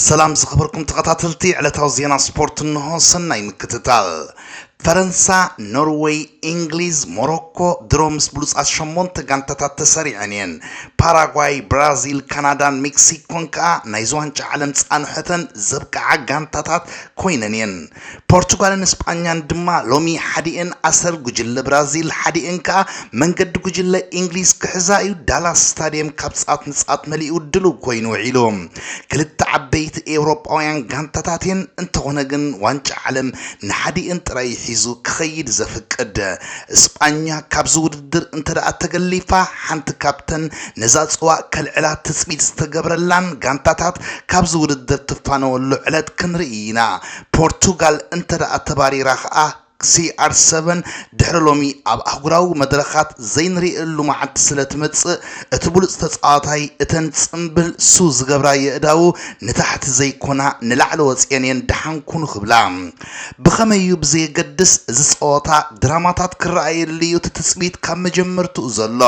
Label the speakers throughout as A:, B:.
A: ሰላም ዝኸበርኩም ተኸታተልቲ ዕለታዊ ዜና ስፖርት እንሆ ሰናይ ምክትታል ፈረንሳ ኖርወይ እንግሊዝ ሞሮኮ ድሮ ምስ ብሉፃት ሸሞንተ ጋንታታት ተሰሪዐን እየን ፓራጓይ ብራዚል ካናዳን ሜክሲኮን ከዓ ናይዚ ዋንጫ ዓለም ፃንሖተን ዘብቅዓ ጋንታታት ኮይነን እየን ፖርቱጋልን ስጳኛን ድማ ሎሚ ሓዲኤን ኣሰር ጉጅለ ብራዚል ሓዲኤን ከኣ መንገዲ ጉጅለ ኢንግሊዝ ክሕዛ እዩ። ዳላስ ስታድየም ካብ ጻት ንጻት መሊኡ ድሉው ኮይኑ ውዒሉ። ክልተ ዓበይቲ ኤውሮጳውያን ጋንታታት እየን፣ እንተኾነ ግን ዋንጫ ዓለም ንሓዲኤን ጥራይ እዩ ሒዙ ክኸይድ ዘፍቅድ። ስጳኛ ካብዚ ውድድር እንተደኣ ተገሊፋ ሓንቲ ካብተን ነዛ ፅዋእ ከልዕላ ትፅቢት ዝተገብረላን ጋንታታት ካብዚ ውድድር ትፋነወሉ ዕለት ክንርኢ ኢና። ፖርቱጋል እንተድኣ ተባሪራ ከዓ ሲኣር ሰቨን ድሕሪ ሎሚ ኣብ ኣህጉራዊ መድረኻት ዘይንርእየሉ መዓልቲ ስለትመፅእ እቲ ብሉፅ ተፃዋታይ እተን ፅምብል ስው ዝገብራ የእዳዉ ንታሕቲ ዘይኮና ንላዕሊ ወፂኤን እየን ደሓን ኩኑ ክብላ። ብኸመይ እዩ ብዘየገድስ እዚ ፀወታ ድራማታት ክረኣየሉ እዩ እቲ ትፅቢት ካብ መጀመርትኡ ዘሎ።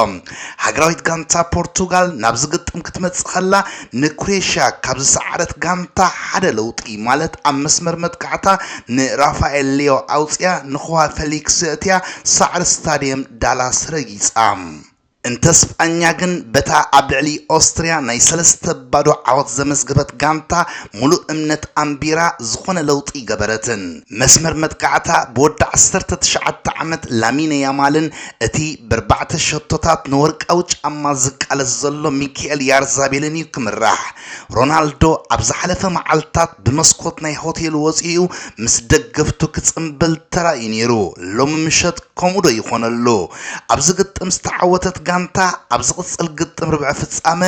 A: ሃገራዊት ጋንታ ፖርቱጋል ናብዚ ግጥም ክትመጽእ ከላ ንክሮኤሽያ ካብ ዝሰዓረት ጋንታ ሓደ ለውጢ ማለት ኣብ መስመር መጥቃዕታ ንራፋኤል ሊዮ ኣውጺኣ ንኹዋ ፈሊክስ የእትያ ሳዕሪ ስታድየም ዳላስ ረጊጻ። እንተ ስጳኛ ግን በታ ኣብ ልዕሊ ኦስትርያ ናይ ሰለስተ ባዶ ዓወት ዘመዝገበት ጋንታ ሙሉእ እምነት ኣንቢራ ዝኾነ ለውጢ ኣይገበረትን። መስመር መጥቃዕታ ብወዲ ዓሰርተ ትሽዓተ ዓመት ላሚነ ያማልን እቲ በርባዕተ ሸቶታት ንወርቃዊ ጫማ ዝቃለስ ዘሎ ሚኪኤል ያርዛቤልን እዩ ክምራሕ። ሮናልዶ ኣብ ዝሓለፈ መዓልታት ብመስኮት ናይ ሆቴሉ ወጺኡ ምስ ደገፍቱ ክጽምብል ተራእዩ ነይሩ፣ ሎሚ ምሸት ከምኡ'ዶ ይኾነሉ? ኣብዚ ግጥም ዝተዓወተት ጋንታ ኣብ ዝቕጽል ግጥም ርብዒ ፍጻመ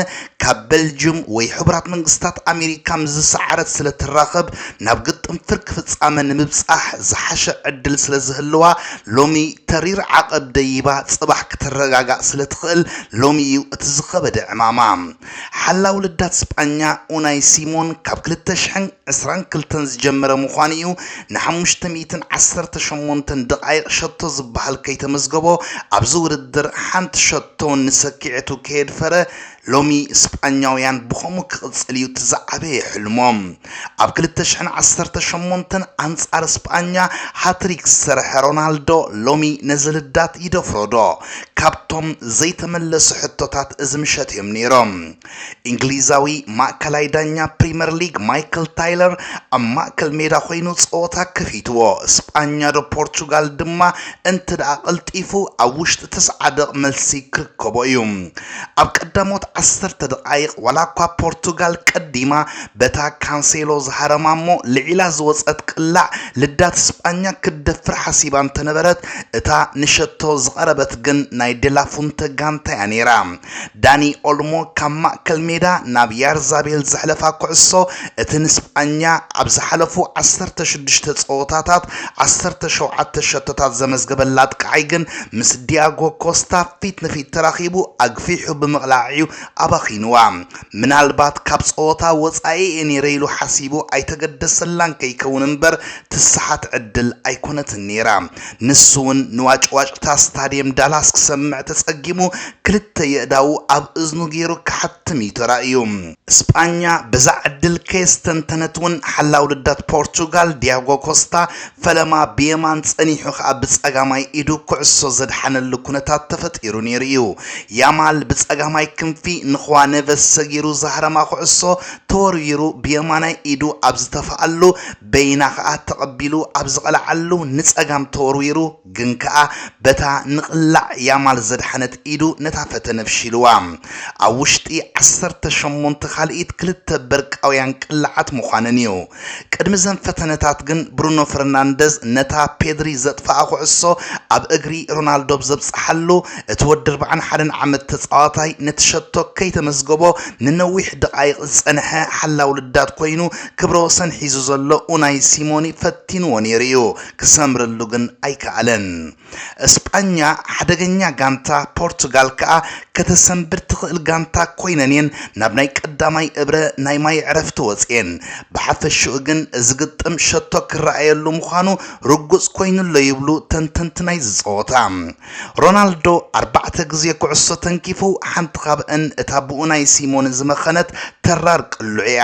A: ካብ በልጅም ወይ ሕቡራት መንግስታት ኣሜሪካ ምስ ዝሰዓረት ስለ ትራኸብ ናብ ግጥም ፍርቂ ፍጻመ ንምብጻሕ ዝሓሸ ዕድል ስለ ዝህልዋ ሎሚ ተሪር ዓቐብ ደይባ ጽባሕ ክትረጋጋእ ስለ ትኽእል ሎሚ እዩ እቲ ዝኸበደ ዕማማ። ሓላው ልዳት ስጳኛ ኡናይ ሲሞን ካብ ክልተ ሽሕን ዕስራን ክልተን ዝጀመረ ምዃኑ እዩ ን ሓሙሽተ ሚእትን ዓሰርተ ሸሞንተን ደቓይቕ ሸቶ ዝበሃል ከይተመዝገቦ ኣብዚ ውድድር ሓንቲ ሸቶ ንሰኪዔቱ ከየድፈረ ሎሚ ስጳኛውያን ብኸምኡ ክቕጽል እዩ እቲ ዝዓበየ ሕልሞም። ኣብ ክልተ ሽሕን ዓሰርተ ሸሞንተን ኣንጻር ስጳኛ ሃትሪክ ዝሰርሐ ሮናልዶ ሎሚ ነዚ ልዳት ይደፍሮዶ? ካብቶም ዘይተመለሱ ሕቶታት እዚ ምሸት እዮም ነይሮም። እንግሊዛዊ ማእከላይ ዳኛ ፕሪመር ሊግ ማይክል ታይለር ኣብ ማእከል ሜዳ ኮይኑ ጸወታ ከፊትዎ፣ ስጳኛዶ ፖርቹጋል ድማ እንተድኣ ቀልጢፉ ኣብ ውሽጢ ትስዓ ደቕ መልሲ ክርከቦ እዩ። ኣብ ቀዳሞት ዓሰርተ ደቓይቕ ዋላኳ ፖርቱጋል ቀዲማ በታ ካንሴሎ ዝሃረማ እሞ ልዒላ ዝወጸት ቅላዕ ልዳት ስጳኛ ክትደፍር ሓሲባ እንተነበረት እታ ንሸቶ ዝቐረበት ግን ናይ ደላፉንተ ጋንታ እያ ነይራ። ዳኒ ኦልሞ ካብ ማእከል ሜዳ ናብ ያርዛቤል ዘሕለፋ ኩዕሶ፣ እቲ ንስጳኛ ኣብ ዝሓለፉ ዓሰርተ ሽዱሽተ ጸወታታት ዓሰርተ ሸውዓተ ሸቶታት ዘመዝገበላ ኣጥቃዓይ ግን ምስ ዲያጎ ኮስታ ፊት ንፊት ተራኺቡ ኣግፊሑ ብምቕላዕ'ዩ ኣባኺኑዋ። ምናልባት ካብ ጸወታ ወጻኢ'የ ነይረ ኢሉ ሓሲቡ ኣይተገደሰላን ከይከውን እምበር ትስሓት ዕድል ኣይኮነትን ነይራ። ንሱ'ውን ንዋጭዋጭታ ስታድየም ዳላስ ክሰምዕ ተጸጊሙ ክልተ የእዳዉ ኣብ እዝኑ ገይሩ ክሓትም እዩ ተራእዩ። ስጳኛ በዛ ዕድል ከየስተንተነት'ውን ሓላዊ ልዳት ፖርቱጋል ዲያጎ ኮስታ ፈለማ ብየማን ጸኒሑ ከኣ ብጸጋማይ ኢዱ ኩዕሶ ዘድሓነሉ ኩነታት ተፈጢሩ ነይሩ እዩ። ያማል ብጸጋማይ ክንፊ ንኹዋ ነቨስ ሰጊሩ ዝሃረማ ኩዕሶ ተወርዊሩ ብየማናይ ኢዱ ኣብ ዝተፍኣሉ በይና ከኣ ተቐቢሉ ኣብ ዝቐልዓሉ ንጸጋም ተወርዊሩ ግን ከኣ በታ ንቕላዕ ያማል ዘድሓነት ኢዱ ነታ ፈተነ ፍሺልዋ። ኣብ ውሽጢ ዓሰርተ ሸሞንተ ካልኢት ክልተ በርቃውያን ቅላዓት ምዃነን እዩ። ቅድሚ እዘን ፈተነታት ግን ብሩኖ ፈርናንደዝ ነታ ፔድሪ ዘጥፍኣ ኩዕሶ ኣብ እግሪ ሮናልዶ ብ ዘብጽሓሉ እቲ ወዲ ኣርብዓን ሓደን ዓመት ተጻዋታይ ነቲ ሸቶ ከይተመዝገቦ ንነዊሕ ደቓይቕ ዝጸንሐ ሓላዊ ልዳት ኮይኑ ክብረ ወሰን ሒዙ ዘሎ ኡናይ ሲሞኒ ፈቲንዎ ነይሩ እዩ፣ ክሰምረሉ ግን ኣይከኣለን። እስጳኛ ሓደገኛ ጋንታ፣ ፖርቱጋል ከኣ ከተሰንብድ ትኽእል ጋንታ ኮይነን እየን ናብ ናይ ቀዳማይ እብረ ናይ ማይ ዕረፍቲ ወጺኤን። ብሓፈሽኡ ግን እዚ ግጥም ሸቶ ክረኣየሉ ምዃኑ ርጉጽ ኮይኑ'ሎ ይብሉ ተንተንቲ ናይዚ ጸወታ። ሮናልዶ ኣርባዕተ ግዜ ኩዕሶ ተንኪፉ፣ ሓንቲ ካብኣን እታ ብኡናይ ሲሞነ ዝመኸነት ተራር ቅልዑ'ያ።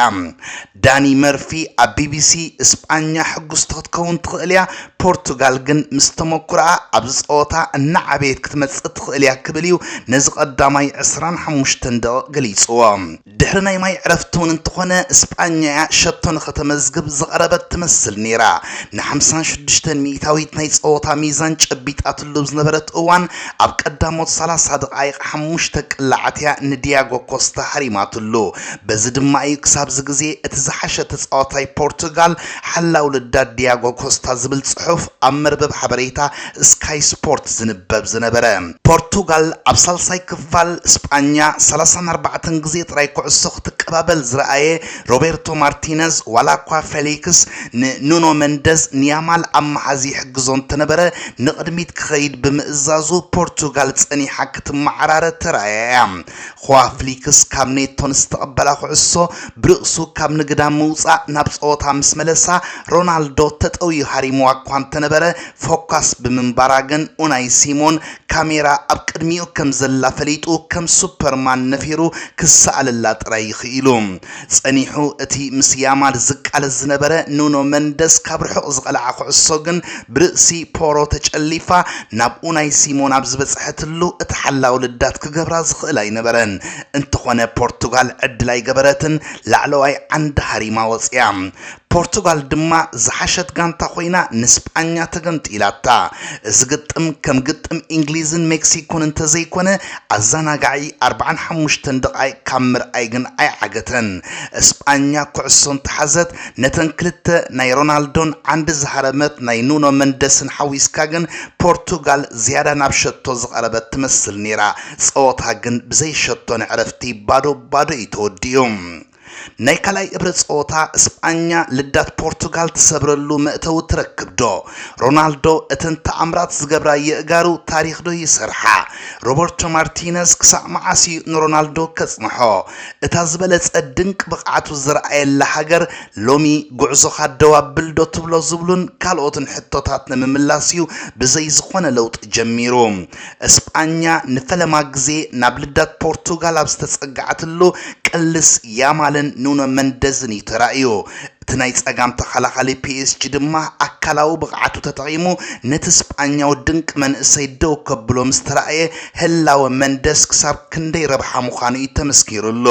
A: ዳኒ መርፊ ኣብ ቢቢሲ፣ ስጳኛ ሕጉስቲ ክትከውን ትኽእል'ያ፣ ፖርቱጋል ግን ምስ ተመኩሮኣ ኣብዚ ጸወታ እናዓበየት ክትመጽእ ትኽእል'ያ ክብል'ዩ ነዚ ቀዳማይ ዕስራን ሓሙሽተን ደቒቕ ገሊጹዎ። ድሕሪ ናይ ማይ ዕረፍቲ ውን እንተኾነ ስጳኛ'ያ ሸቶ ንኸተመዝግብ ዝቐረበት ትመስል ነይራ። ንሓምሳን ሽዱሽተን ሚኢታዊት ናይ ጸወታ ሚዛን ጨቢጣትሉ ኣብ ዝነበረት እዋን ኣብ ቀዳሞት ሰላሳ ደቓይቕ ሓሙሽተ ቅላዓት'ያ ንዲያጎ ኮስታ ሃሪማትሉ። በዚ ድማ'ዩ ክሳብ'ዚ ግዜ እቲ ዝሓሸ ተጻዋታይ ፖርቱጋል ሓላው ልዳት ዲያጎ ኮስታ ዝብል ጽሑፍ ኣብ መርበብ ሓበሬታ ስካይ ስፖርት ዝንበብ ዝነበረ። ፖርቱጋል ኣብ ሳልሳይ ክፋል ስጳኛ ሰላሳን ኣርባዕተን ግዜ ጥራይ ኩዕሶ ክትቀባበል ዝረኣየ ሮቤርቶ ማርቲነዝ ዋላኳ ፌሊክስ ንኑኖ መንደዝ ንያማል ኣብ ምሓዝ ይሕግዞ እንተነበረ ንቕድሚት ክኸይድ ብምእዛዙ ፖርቱጋል ጸኒሓ ክትመዓራረ ተራእያ'ያ። ኹዋ ፍሊክስ ካብ ኔቶ ንዝተቐበላ ኩዕሶ ብርእሱ ካብ ንግዳም ምውጻእ ናብ ጸወታ ምስ መለሳ ሮናልዶ ተጠውዩ ሃሪሙዋ'ኳ እንተነበረ ፎካስ ብምንባራ ግን ኡናይ ሲሞን ካሜራ ኣብ ቅድሚኡ ከም ዘላ ፈሊጡ ከም ሱፐርማን ነፊሩ ክሰኣለላ ጥራይ እዩ ክኢሉ። ጸኒሑ እቲ ምስ ያማል ዝቃለስ ዝነበረ ኑኖ መንደስ ካብ ርሑቕ ዝቐልዓ ኩዕሶ ግን ብርእሲ ፖሮ ተጨሊፋ ናብ ኡናይ ሲሞን ኣብ ዝበጽሐትሉ እቲ ሓላዊ ልዳት ክገብራ ዝኽእል ኣይነበረን። እንተኾነ ፖርቱጋል ዕድል ኣይገበረትን ላዕለዋይ ዓንዲ ሃሪማ ወጺኣ። ፖርቱጋል ድማ ዝሓሸት ጋንታ ኮይና ንስጳኛ ተገምጢላታ። እዚ ግጥም ከም ግጥም ኢንግሊዝን ሜክሲኮን እንተዘይኮነ ኣዛናጋዒ ኣርብዓን ሓሙሽተን ደቓይቕ ካብ ምርኣይ ግን ኣይዓገተን። ስጳኛ ኩዕሶ እንተሓዘት ነተን ክልተ ናይ ሮናልዶን ዓንዲ ዝሃረመት ናይ ኑኖ መንደስን ሓዊስካ ግን ፖርቱጋል ዝያዳ ናብ ሸቶ ዝቐረበት ትመስል ነይራ። ጸወታ ግን ብዘይ ሸቶ ንዕረፍቲ ባዶ ባዶ እዩ ተወዲኡ። ናይ ካልኣይ እብረ ጸወታ እስጳኛ ልዳት ፖርቱጋል ትሰብረሉ መእተዊ ትረክብዶ? ሮናልዶ እተን ተኣምራት ዝገብራ የእጋሩ ታሪኽዶ ይሰርሓ? ሮበርቶ ማርቲነዝ ክሳዕ መዓስ'ዩ ንሮናልዶ ከጽንሖ? እታ ዝበለጸ ድንቂ ብቕዓቱ ዝርኣየላ ሃገር ሎሚ ጉዕዞኻ ደው ኣብል'ዶ ትብሎ ዝብሉን ካልኦትን ሕቶታት ንምምላስ'ዩ ብዘይ ዝኾነ ለውጢ ጀሚሩ እስጳኛ ንፈለማ ግዜ ናብ ልዳት ፖርቱጋል ኣብ ዝተጸግዓትሉ ቅልስ ያማልን ኑኖ መንደዝን እዩ ተራእዩ። እቲ ናይ ጸጋም ተኸላኻሊ ፒኤስጂ ድማ ኣካላዊ ብቕዓቱ ተጠቒሙ ነቲ ስጳኛዊ ድንቂ መንእሰይ ደው ከብሎ ምስ ተራእየ ህላወ መንደዝ ክሳብ ክንደይ ረብሓ ምዃኑ እዩ ተመስኪሩሉ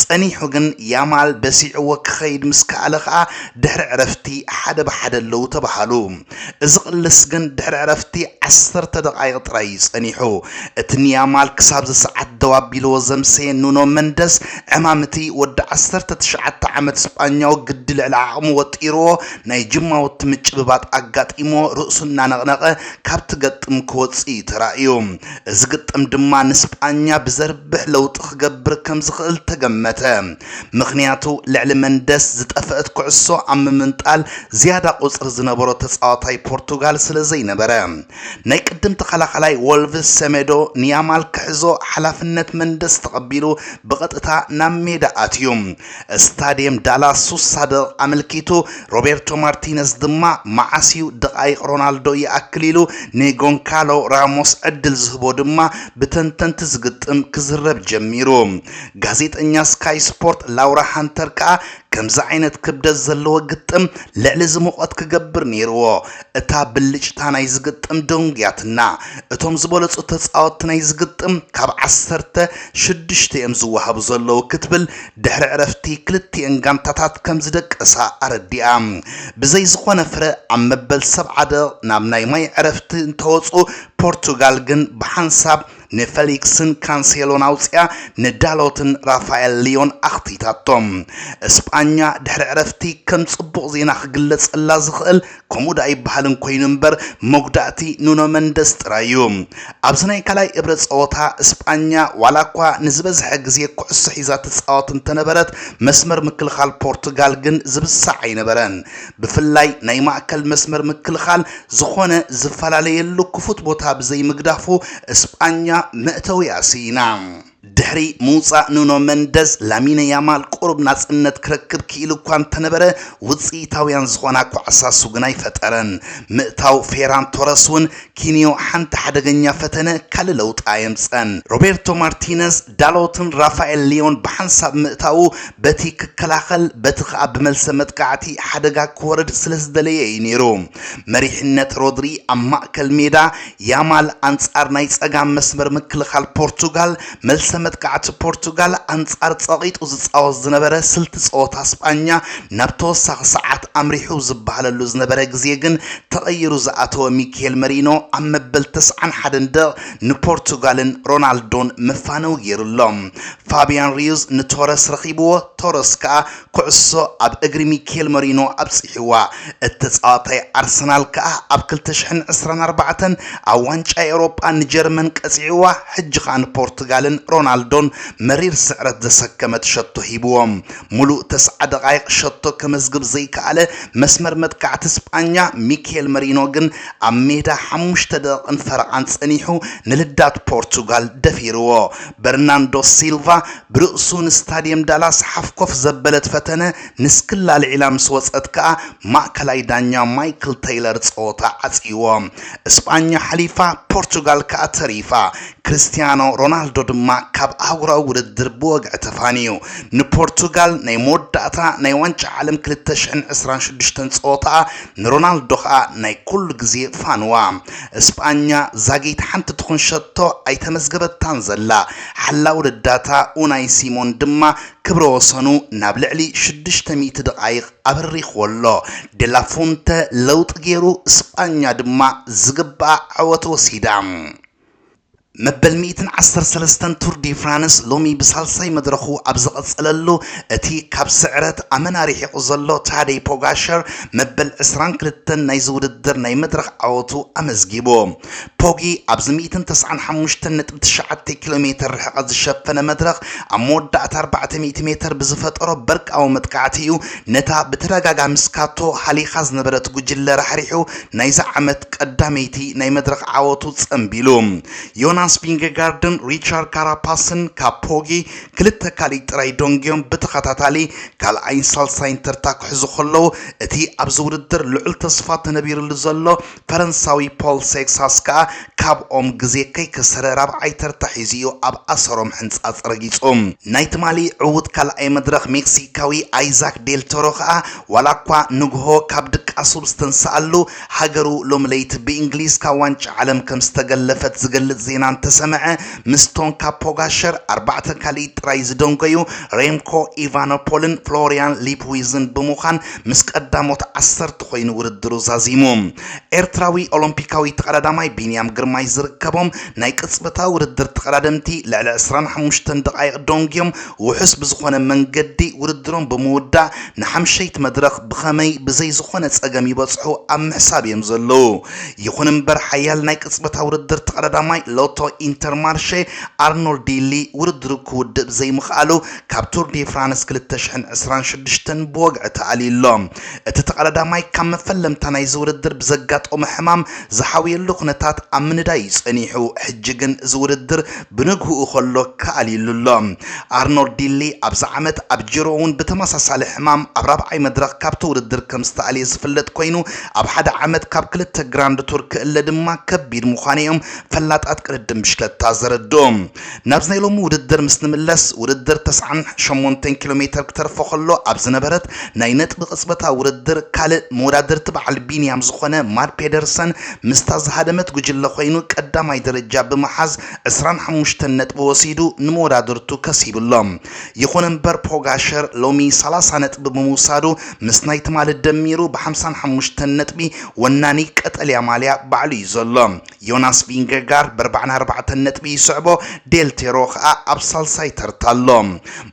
A: ጸኒሑ ግን ያማል በሲዕዎ ክኸይድ ምስ ከኣለ ከኣ ድሕሪ ዕረፍቲ ሓደ ብሓደ ኣለዉ ተባሃሉ። እዚ ቅልስ ግን ድሕሪ ዕረፍቲ ዓሰርተ ደቓይቕ ጥራይ እዩ ጸኒሑ። እቲ ንያማል ክሳብዚ ሰዓት ደው ኣቢልዎ ዘምሰየ ኑኖ መንደስ፣ ዕማም እቲ ወዲ ዓሰርተ ትሽዓተ ዓመት ስጳኛዊ ግዲ ልዕሊ ዓቕሙ ወጢርዎ፣ ናይ ጅማውቲ ምጭብባጥ ኣጋጢምዎ ርእሱ እናነቕነቐ ካብቲ ገጥም ክወጽእ እዩ ተራእዩ። እዚ ግጥም ድማ ንስጳኛ ብዘርብሕ ለውጢ ክገብር ከም ዝኽእል ተገመተ። ምኽንያቱ ልዕሊ መንደስ ዝጠፈእት ኩዕሶ ኣብ ምምንጣል ዝያዳ ቁጽሪ ዝነበሮ ተጻዋታይ ፖርቱጋል ስለ ዘይነበረ፣ ናይ ቅድም ተኸላኻላይ ወልቭስ ሰሜዶ ንያማል ክሕዞ ሓላፍነት መንደስ ተቐቢሉ ብቐጥታ ናብ ሜዳ ኣትዩ። ስታድየም ዳላስ ሱሳ ደቕቕ ኣመልኪቱ ሮቤርቶ ማርቲነዝ ድማ መዓስ'ዩ ደቓይቕ ሮናልዶ ይኣክል ኢሉ ንጎንካሎ ራሞስ ዕድል ዝህቦ ድማ ብተንተንቲ ዝግጥም ክዝረብ ጀሚሩ። ጋዜጠኛ ስካይ ስፖርት ላውራ ሃንተር ከኣ ከምዚ ዓይነት ክብደት ዘለዎ ግጥም ልዕሊ እዚ ሙቐት ክገብር ነይርዎ። እታ ብልጭታ ናይዚ ግጥም ደንጉያትና። እቶም ዝበለጹ ተጻወትቲ ናይዚ ግጥም ካብ ዓሰርተ ሽዱሽተ እዮም ዝወሃቡ ዘለዉ ክትብል ድሕሪ ዕረፍቲ ክልቲኤን ጋንታታት ከም ዝደቀሳ ኣረዲኣ። ብዘይ ዝኾነ ፍረ ኣብ መበል ሰብዓ ደቕቕ ናብ ናይ ማይ ዕረፍቲ እንተወጹ ፖርቱጋል ግን ብሓንሳብ ንፈሊክስን ካንሴሎን ኣውጺኣ ንዳሎትን ራፋኤል ሊዮን ኣኽቲታቶም። እስጳኛ ድሕሪ ዕረፍቲ ከም ጽቡቕ ዜና ክግለጸላ ዝኽእል ከምኡ ደኣ ይበሃልን ኮይኑ እምበር መጉዳእቲ ኑኖ መንደስ ጥራይ'ዩ። ኣብዚ ናይ ካልኣይ እብረ ጸወታ እስጳኛ ዋላኳ ንዝበዝሐ ግዜ ኩዕሶ ሒዛ ትጻወት እንተነበረት መስመር ምክልኻል ፖርቱጋል ግን ዝብሳዕ ኣይነበረን ብፍላይ ናይ ማእከል መስመር ምክልኻል ዝኾነ ዝፈላለየሉ ክፉት ቦታ ብዘይምግዳፉ እስጳኛ መእተዊኣ ስኢና። ድሕሪ ምውጻእ ኑኖ መንደዝ፣ ላሚነ ያማል ቁሩብ ናጽነት ክረክብ ክኢሉ'ኳ እንተነበረ፣ ውጽኢታውያን ዝኾና ኳዕሳሱ ግን ኣይፈጠረን። ምእታው ፌራን ቶረስ'ውን ኪንዮ ሓንቲ ሓደገኛ ፈተነ ካልእ ለውጢ ኣየምጸን። ሮቤርቶ ማርቲነዝ ዳሎትን ራፋኤል ሊዮን ብሓንሳብ ምእታዉ በቲ ክከላኸል በቲ ከኣ ብመልሰ መጥቃዕቲ ሓደጋ ክወርድ ስለዝደለየ እዩ ነይሩ። መሪሕነት ሮድሪ ኣብ ማእከል ሜዳ፣ ያማል ኣንጻር ናይ ጸጋም መስመር ምክልኻል ፖርቱጋል፣ መልሰ መጥቃዕቲ ፖርቱጋል ኣንጻር ጸቒጡ ዝጻወት ዝነበረ ስልቲ ጸወታ ስጳኛ ናብ ተወሳኺ ሰዓት ኣምሪሑ ዝበሃለሉ ዝነበረ ግዜ ግን ተቐይሩ ዝኣተወ ሚኪሄል መሪኖ ኣብ መበል ተስዓን ሓደን ደቕ ንፖርቱጋልን ሮናልዶን መፋነዊ ገይሩ ኣሎ። ፋብያን ሪዩዝ ንቶረስ ረኺብዎ፣ ቶረስ ከኣ ኩዕሶ ኣብ እግሪ ሚኬል መሪኖ ኣብጺሕዋ። እቲ ተጻዋታይ ኣርሰናል ከኣ ኣብ ክልተ ሽሕን ዕስራን ኣርባዕተን ኣብ ዋንጫ ኤውሮጳ ንጀርመን ቀጺዕዋ፣ ሕጂ ከኣ ንፖርቱጋልን ሮናልዶን መሪር ስዕረት ዘሰከመት ሸቶ ሂብዎም። ምሉእ ተስዓ ደቓይቕ ሸቶ ከመዝግብ ዘይከኣለ መስመር መጥቃዕቲ ስጳኛ ሚኬል መሪኖ ግን ኣብ ሜዳ ሓሙሽተ ደቕን ፈረቓን ጸኒሑ ንልዳት ፖርቱጋል ደፊርዎ። በርናንዶ ሲልቫ ብርእሱ ንስታድየም ዳላስ ሓፍኮፍ ዘበለት ፈተነ ንስክላ ኣልዒላ ምስ ወጸት ከኣ ማእከላይ ዳኛ ማይክል ተይለር ጸወታ ዓጽይዎ። ስጳኛ ሓሊፋ ፖርቱጋል ከኣ ተሪፋ። ክርስትያኖ ሮናልዶ ድማ ካብ ኣህጉራዊ ውድድር ብወግዒ ተፋንዩ። ንፖርቱጋል ናይ መወዳእታ ናይ ዋንጫ ዓለም ክልተ ሽሕን ዕስራን ሽዱሽተን ጸወታኣ፣ ንሮናልዶ ከኣ ናይ ኩሉ ግዜ ፋንዋ። እስጳኛ ዛጊት ሓንቲ ትኹን ሸቶ ኣይተመዝገበታን ዘላ። ሓላዊ ረዳታ ኡናይ ሲሞን ድማ ክብረ ወሰኑ ናብ ልዕሊ ሽዱሽተ ሚእቲ ደቓይቕ ኣብሪኽዎ ኣሎ። ዴላ ፉንተ ለውጢ ገይሩ፣ እስጳኛ ድማ ዝግብኣ ዓወት ወሲዳ። መበል ሚእትን ዓሰርተ ሰለስተን ቱር ዲ ፍራንስ ሎሚ ብሳልሳይ መድረኹ ኣብ ዝቐጸለሉ፣ እቲ ካብ ስዕረት ኣመና ርሒቑ ዘሎ ታደይ ፖጋሸር መበል ዕስራን ክልተን ናይዚ ውድድር ናይ መድረኽ ዓወቱ ኣመዝጊቡ። ፖጊ ኣብዚ ሚእትን ተስዓን ሓሙሽተን ነጥቢ ትሽዓተ ኪሎ ሜተር ርሕቐት ዝሸፈነ መድረኽ ኣብ መወዳእታ ኣርባዕተ ሚእቲ ሜተር ብዝፈጠሮ በርቃዊ መጥቃዕቲ እዩ ነታ ብተደጋጋሚ ስካቶ ሃሊኻ ዝነበረት ጉጅለ ራሕሪሑ ናይዛ ዓመት ቀዳመይቲ ናይ መድረኽ ዓወቱ ጸምቢሉ። ዮናስ ቪንገጋርድን ሪቻርድ ካራፓስን ካብ ፖጊ ክልተ ካልኢት ጥራይ ደንጊዮም ብተኸታታሊ ካልኣይን ሳልሳይን ተርታ ክሕዙ ከለዉ እቲ ኣብዚ ውድድር ልዑል ተስፋ ተነቢርሉ ዘሎ ፈረንሳዊ ፖል ሴክሳስ ከኣ ካብኦም ግዜ ከይከሰረ ራብዓይ ተርታ ሒዙ እዩ ኣብ ኣሰሮም ሕንጻጽ ረጊጹ። ናይ ትማሊ ዕዉት ካልኣይ መድረኽ ሜክሲካዊ ኣይዛክ ዴል ቶሮ ከኣ ዋላኳ ንግሆ ካብ ድቃሱ ብዝተንሰኣሉ ሃገሩ ሎሚ ለይቲ ብእንግሊዝ ካብ ዋንጫ ዓለም ከም ዝተገለፈት ዝገልጽ ዜና እንተሰምዐ ምስቶም ካብ ፖጋሸር ኣርባዕተ ካልኢት ጥራይ ዝደንጎዩ ሬምኮ ኢቫኖፖልን ፍሎርያን ሊፕዊዝን ብምዃን ምስ ቀዳሞት ዓሰርተ ኮይኑ ውድድሩ ዛዚሙ። ኤርትራዊ ኦሎምፒካዊ ተቐዳዳማይ ቢንያም ግርማይ ዝርከቦም ናይ ቅጽበታዊ ውድድር ተቐዳደምቲ ልዕሊ ዕስራን ሓሙሽተን ደቓይቕ ዶንግዮም ውሑስ ብዝኾነ መንገዲ ውድድሮም ብምውዳእ ንሓምሸይቲ መድረኽ ብኸመይ ብዘይ ዝኾነ ጸገም ይበጽሑ ኣብ ምሕሳብ እዮም ዘለዉ። ይኹን እምበር ሓያል ናይ ቅጽበታዊ ውድድር ተቐዳዳማይ ሎቶ ኢንተርማርሼ ኣርኖልድ ዲሊ ውድድሩ ክውድእ ብዘይምኽኣሉ ካብ ቱር ዴ ፍራንስ ክልተ ሽሕን ዕስራን ሽዱሽተን ብወግዒ ተኣልዩ ኣሎ። እቲ ተቐዳዳማይ ካብ መፈለምታ ናይዚ ውድድር ብዘጋጠሞ ሕማም ዝሓውየሉ ኩነታት ኣብ ምንዳይ እዩ ጸኒሑ፣ ሕጂ ግን እዚ ውድድር ብንግሁኡ ከሎ ክኣልዩሉ ኣሎ። ኣርኖር ዲሊ ኣብዚ ዓመት ኣብ ጂሮ'ውን ብተመሳሳሊ ሕማም ኣብ ራብዓይ መድረኽ ካብቲ ውድድር ከም ዝተኣልየ ዝፍለጥ ኮይኑ፣ ኣብ ሓደ ዓመት ካብ ክልተ ግራንድ ቱር ክእለ ድማ ከቢድ ምዃኑ'ዮም ፈላጣት ቅድድም ብሽክለታ ዘረድኡ። ናብዚ ናይ ሎሚ ውድድር ምስ ንምለስ ውድድር ተስዓን ሸሞንተን ኪሎ ሜተር ክተርፎ ከሎ ኣብ ዝነበረት ናይ ነጥቢ ቅጽበታ ውድድር ካልእ መወዳድርቲ በዓል ቢንያም ዝኾነ ማድ ፔደርሰን ምስታ ዝሃደመት ጉጅለ ኮይኑ ቀዳማይ ደረጃ ብምሓዝ ዕስራን ሓሙሽተን ነጥቢ ወሲዱ ንመወዳድርቱ ከሲብሎም ይኹን እምበር ፖጋሸር ሎሚ ሰላሳ ነጥቢ ብምውሳዱ ምስ ናይ ትማሊ ደሚሩ ብሓምሳን ሓሙሽተን ነጥቢ ወናኒ ቀጠልያ ማልያ ባዕሉ እዩ ዘሎ። ዮናስ ቪንገጋርድ ብኣርባዕን ኣርባዕተን ነጥቢ ይስዕቦ፣ ዴል ፔሮ ከኣ ኣብ ሳልሳይ ተርታ ኣሎ።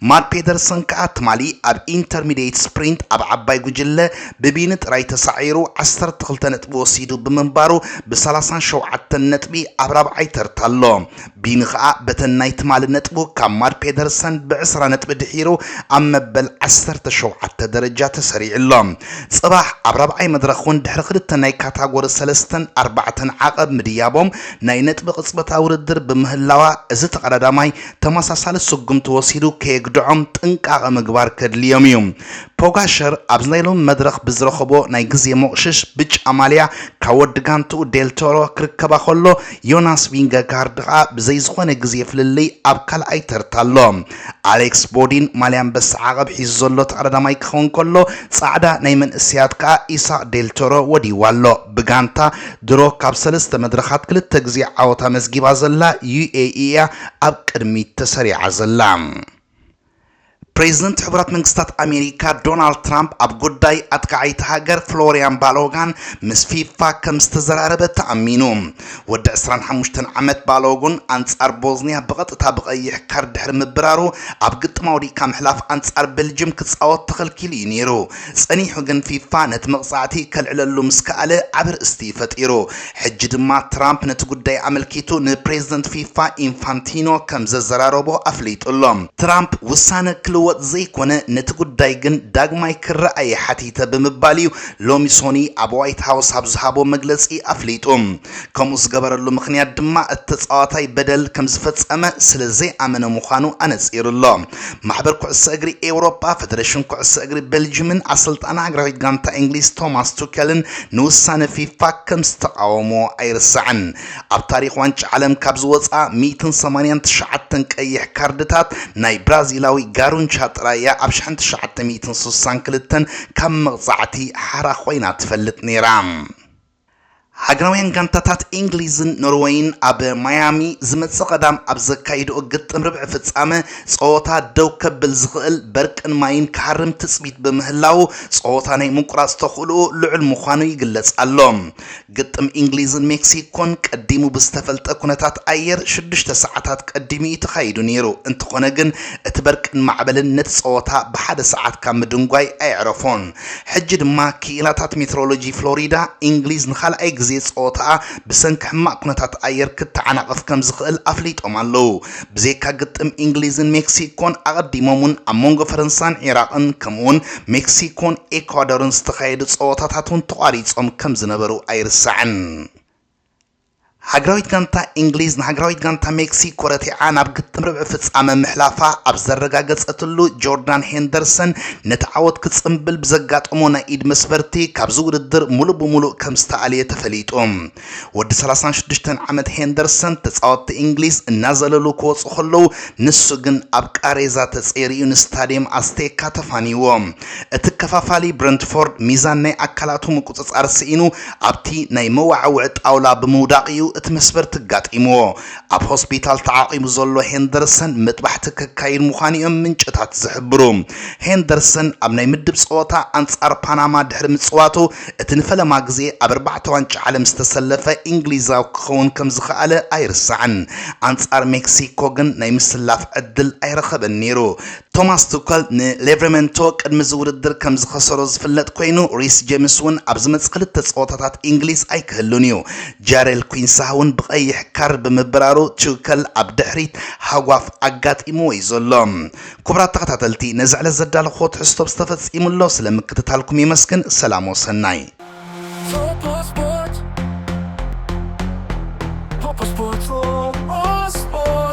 A: ማድ ፔደርሰን ከኣ ትማሊ ኣብ ኢንተርሚድየት ስፕሪንት ኣብ ዓባይ ጉጅለ ብቪኒ ጥራይ ተሳዒሩ ዓሰርተ ክልተ ነጥቢ ወሲዱ ብምንባሩ ብ ሰላሳን ሸውዓተን ነጥቢ ኣብ ራብዓይ ተርታ ኣሎ። ቢኒ ከኣ በተን ናይ ትማሊ ነጥቡ ካብ ማድ ፔደርሰን ብዕስራ ነጥቢ ድሒሩ ኣብ መበል ዓሰርተ ሸውዓተ ደረጃ ተሰሪዑ ኣሎ። ጽባሕ ኣብ ራብዓይ መድረኽ ውን ድሕሪ ክልተ ናይ ካታጎሪ ሰለስተን ኣርባዕተን ዓቐብ ምድያቦም ናይ ነጥቢ ቅጽበታ ውድድር ብምህላዋ እዚ ተቐዳዳማይ ተመሳሳሊ ስጉምቲ ወሲዱ ከየግድዖም ጥንቃቐ ምግባር ከድልዮም እዩ። ፖጋሸር ኣብዚ ናይ ሎሚ መድረኽ ብዝረኸቦ ናይ ግዜ ሞቕሽሽ ብጫ ማልያ ካብ ወዲ ጋንትኡ ዴል ቶሮ ክርከባ ከሎ ዮናስ ቪንገጋርድ ከኣ ብዘይ ዝኾነ ግዜ ፍልልይ ኣብ ካልኣይ ተርታ ኣሎ። ኣሌክስ ቦዲን ማልያ ኣንበሳ ዓቐብ ሒዙ ዘሎ ተቐዳዳማይ ክኸውን ከሎ፣ ጻዕዳ ናይ መንእሰያት ከኣ ኢሳቕ ዴል ቶሮ ወዲይዋ ኣሎ። ብጋንታ ድሮ ካብ ሰለስተ መድረኻት ክልተ ግዜ ዓወት ኣመዝጊባ ዘላ ዩኤኢ እያ ኣብ ቅድሚት ተሰሪዓ ዘላ። ፕሬዝደንት ሕቡራት መንግስታት ኣሜሪካ ዶናልድ ትራምፕ ኣብ ጉዳይ ኣጥቃዓይቲ ሃገር ፍሎሪያን ባሎጋን ምስ ፊፋ ከም ዝተዘራረበ ተኣሚኑ። ወዲ 25 ዓመት ባሎጉን ኣንጻር ቦዝኒያ ብቐጥታ ብቐይሕ ካርድ ድሕሪ ምብራሩ ኣብ ግጥም ኣውዲቕካ ምሕላፍ ኣንጻር ቤልጅም ክጻወት ተኸልኪሉ እዩ ነይሩ። ጸኒሑ ግን ፊፋ ነቲ መቕጻዕቲ ከልዕለሉ ምስ ከኣለ ዓቢ ርእስቲ ፈጢሩ። ሕጂ ድማ ትራምፕ ነቲ ጉዳይ ኣመልኪቱ ንፕሬዝደንት ፊፋ ኢንፋንቲኖ ከም ዘዘራረቦ ኣፍሊጡ ኣሎ። ትራምፕ ውሳነ ክልወጥ ዘይኮነ ነቲ ጉዳይ ግን ዳግማይ ክረኣ'የ ሓቲተ ብምባል'ዩ ሎሚ ሶኑይ ኣብ ዋይት ሃውስ ኣብ ዝሃቦ መግለጺ ኣፍሊጡ። ከምኡ ዝገበረሉ ምኽንያት ድማ እቲ ተጻዋታይ በደል ከም ዝፈጸመ ስለ ዘይኣመነ ምዃኑ ኣነጺሩ ኣሎ። ማሕበር ኩዕሶ እግሪ ኤውሮጳ፣ ፈደረሽን ኩዕሶ እግሪ ቤልጅምን ኣሰልጣኒ ሃገራዊት ጋንታ እንግሊዝ ቶማስ ቱከልን ንውሳነ ፊፋ ከም ዝተቓወምዎ ኣይርሳዕን። ኣብ ታሪኽ ዋንጫ ዓለም ካብ ዝወጽኣ ሚእትን ሰማንያን ትሽዓተን ቀይሕ ካርድታት ናይ ብራዚላዊ ጋሩንቻ ጥራይ እያ ኣብ ሽሕን ትሽዓተ ሚእትን ስሳን ክልተን ካብ መቕጻዕቲ ሓራ ኮይና ትፈልጥ ነይራ። ሃገራውያን ጋንታታት እንግሊዝን ኖርወይን ኣብ ማያሚ ዝመጽእ ቀዳም ኣብ ዘካይድኦ ግጥም ርብዒ ፍጻመ ጸወታ ደው ከብል ዝኽእል በርቅን ማይን ክሃርም ትጽቢት ብምህላዉ ጸወታ ናይ ምቁራጽ ተኽእሎኡ ልዑል ምዃኑ ይግለጽ ኣሎ። ግጥም እንግሊዝን ሜክሲኮን ቀዲሙ ብዝተፈልጠ ኩነታት ኣየር ሽዱሽተ ሰዓታት ቀዲሙ እዩ ተኻይዱ ነይሩ፣ እንተኾነ ግን እቲ በርቅን ማዕበልን ነቲ ጸወታ ብሓደ ሰዓት ካብ ምድንጓይ ኣየዕረፎን። ሕጂ ድማ ክኢላታት ሜትሮሎጂ ፍሎሪዳ፣ እንግሊዝ ንኻልኣይ ግዜ ጸወታኣ ብሰንኪ ሕማቕ ኩነታት ኣየር ክተዓናቐፍ ከም ዝኽእል ኣፍሊጦም ኣለዉ። ብዘይካ ግጥም እንግሊዝን ሜክሲኮን፣ ኣቐዲሞም'ውን ኣብ መንጎ ፈረንሳን ዒራቕን ከምኡ'ውን ሜክሲኮን ኤኳዶርን ዝተኻየዱ ጸወታታት'ውን ተቋሪጾም ከም ዝነበሩ ኣይርሳዕን። ሃገራዊት ጋንታ እንግሊዝ ንሃገራዊት ጋንታ ሜክሲኮ ረቲዓ ናብ ግጥም ርብዒ ፍጻመ ምሕላፋ ኣብ ዘረጋገጸትሉ፣ ጆርዳን ሄንደርሰን ነቲ ዓወት ክጽምብል ብዘጋጠሞ ናይ ኢድ መስበርቲ ካብዚ ውድድር ምሉእ ብምሉእ ከም ዝተኣልየ ተፈሊጡ። ወዲ ሰላሳን ሽዱሽተን ዓመት ሄንደርሰን ተጻወትቲ እንግሊዝ እናዘለሉ ክወጹ ከለዉ ንሱ ግን ኣብ ቃሬዛ ተጸይሩ'ዩ ንስታድየም ኣስቴካ ተፋንይዎ። እቲ ከፋፋሊ ብረንትፎርድ ሚዛን ናይ ኣካላቱ ምቁጽጻር ስኢኑ ኣብቲ ናይ መወዓውዒ ጣውላ ብምውዳቕ'ዩ እቲ መስበርቲ ኣጋጢምዎ። ኣብ ሆስፒታል ተዓቚቡ ዘሎ ሄንደርሰን መጥባሕቲ ከካይድ ምዃኑ'ዮም ምንጭታት ዝሕብሩ። ሄንደርሰን ኣብ ናይ ምድብ ጸወታ ኣንጻር ፓናማ ድሕሪ ምጽዋቱ እቲ ንፈለማ ግዜ ኣብ ኣርባዕተ ዋንጫ ዓለም ዝተሰለፈ እንግሊዛዊ ክኸውን ከም ዝኸኣለ ኣይርሳዕን። ኣንጻር ሜክሲኮ ግን ናይ ምስላፍ ዕድል ኣይረኸበን ነይሩ። ቶማስ ቱከል ንሌቭረመንቶ ቅድሚ እዚ ውድድር ከም ዝኸሰሮ ዝፍለጥ ኮይኑ፣ ሪስ ጀምስ እውን ኣብ ዝመጽእ ክልተ ጸወታታት ኢንግሊዝ ኣይክህሉን እዩ። ጃሬል ኲንሳህ እውን ብቐይሕ ካርድ ብምብራሩ ቱከል ኣብ ድሕሪት ሃጓፍ ኣጋጢምዎ እዩ ዘሎ። ኩቡራት ተኸታተልቲ ነዚ ዕለት ዘዳለኹዎ ትሕዝቶ ብዚ ተፈጺሙ ኣሎ። ስለ ምክትታልኩም የመስግን። ሰላም ወሰናይ። Popo Sports, Popo Sports.